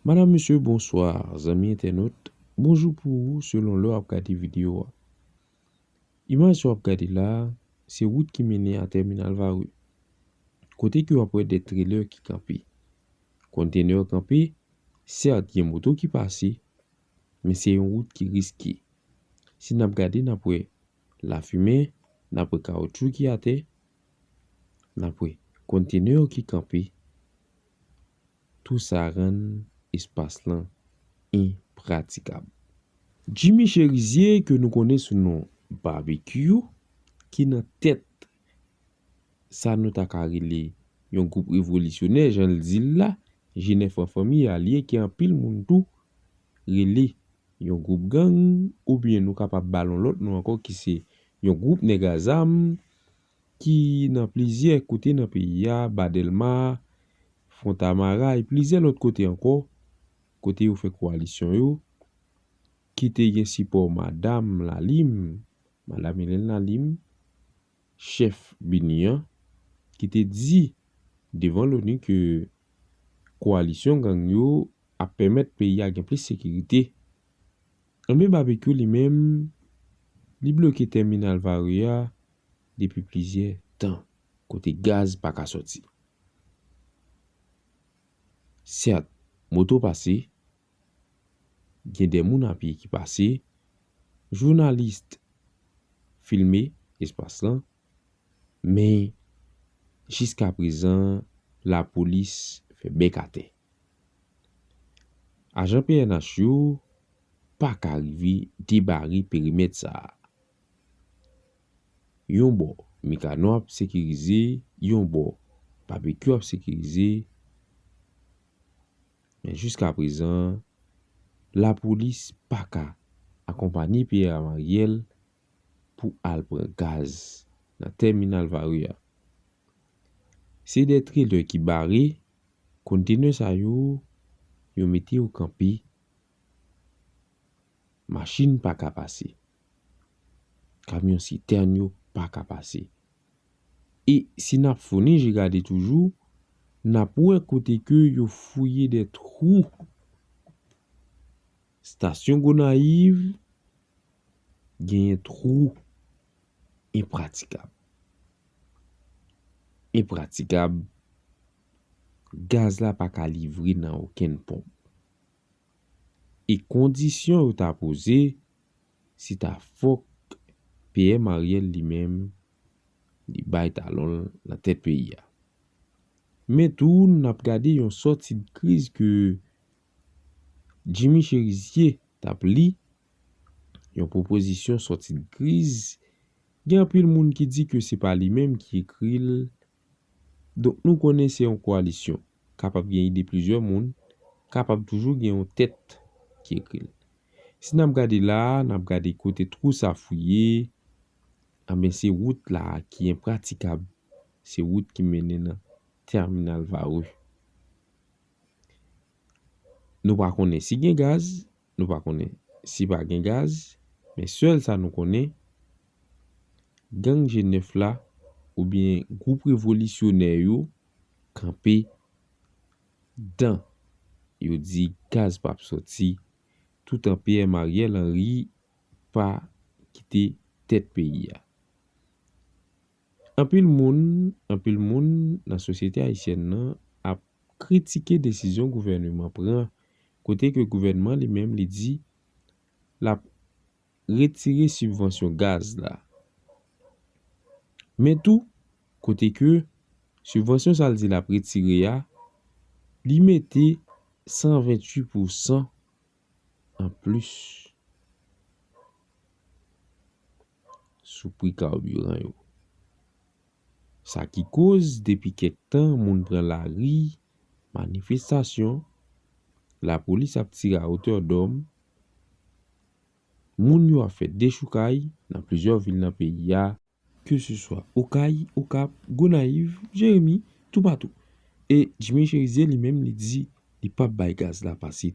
Madam mesye bonswa zanmi entènot bonjou pou ou selon lè wap gade video a imaj sa wap gade la se wout ki mennen a tèminal vare kote ke wap wè de trelè ki kanpe konntenè yo kanpe sèt gen moto ki pase men se yon wout ki riske si nap gade nap wè lafimen nap wè kawotchou ki atè nap wè konntenè yo ki kanpe. Tou sa rann espas lan enpratikab. Jimmy Cherizier ke nou konnen sou non Barbecue ki nan tèt sa nou ta ka rele yon gwoup revolisyonè jan l di l la, Jenè Fran Fanmi a li ke anpil moun tou rele yon gwoup gang oubyen nou kapab ba l yon lòt non ankò ki se yon gwoup nèg a zam. ki nan plizyè kote nan peyi a, Ba Dèlma, Fontamara e plizyè lòt kote ankò, kote yo fè kowalisyon yo, ki te gen sipò Madam Lalime, Madam Hélène Lalime, chèf BINUH an, ki te di devan LONU ke kowalisyon gang yo ap pèmèt peyi a gen plis sekirite. Anben Babekyou li menm, li bloke tèminal Varreux a depi plizyè tan, kote gaz pa ka sòti. Sèt, moto pase, gen de moun a pye ki pase, journaliste filme espas lan. Men, jiska prezan, lapolis fè bèk atè. Ajan pnh yo pa ka rive debare perimèt sa a. Yon bò, Mikano ap sekirize, yon bò, Babekyou ap sekirize, men jiska prezan, lapolis pa ka akonpanye Pierre Amariel pou al pran gaz nan tèminal Varreux a. Se de trelè ki bare kontenè sa yo, yo mete yo kanpe, machin pa ka pase, kamyon sitèn yo pa ka pase. E si n ap founen je gade toujou, n ap wè kote ke yo fouye de twou. Stasyon Gonayiv. Genyen twou enpratikab. Enpratikab, gaz la pa ka livre nan okenn ponp. E kondisyon yo ta poze, se ta fòk PM Ariel li menm, li bay talon l nan tèt peyi a. Men tou, n ap gade yon sòti de kriz ke Jimmy Cherizier t ap li yon pwopozisyon sòti n kriz, gen anpil moun ki di ke se pa li menm ki ekri l, donk nou konnen se yon koalisyon, kapab gen ide plizyè moun, kapab toujou gen yon tèt ki ekri l. Si n ap gade la a, n ap gade kote twou sa fouye, anben se wout la a ki enpratikab, se wout ki mennen nan Terminal Varreux. Nou pa konnen si gen gaz, nou pa konnen si pa gen gaz, men sèl sa nou konnen, gang G9 la oubyen gwoup revolisyonè yo kanpe dan yo di gaz p ap soti toutan PM Ariel Henry pa kite tèt peyi a. Anpil moun anpil moun nan sosyete ayisyèn nan ap kritike desizyon gouvèneman pran kote ke gouvènman li menm li di lap retire sibvansyon gaz la men tou kote ke sibvansyon sa l di lap retire a li mete 128 pou san anplis. sou pri karbiran yo. Sa ki koz depi kèk tan moun pran lari, manifestasyon, lapolis ap tire a otè dòm, moun yo ap fè dechoukay nan plizyè vil nan peyi a, ke se swa Okay, Okap, Gonayiv, Jeremi, toupatou, e Jimmy Cherizier li menm li di li pap bay gaz la pase.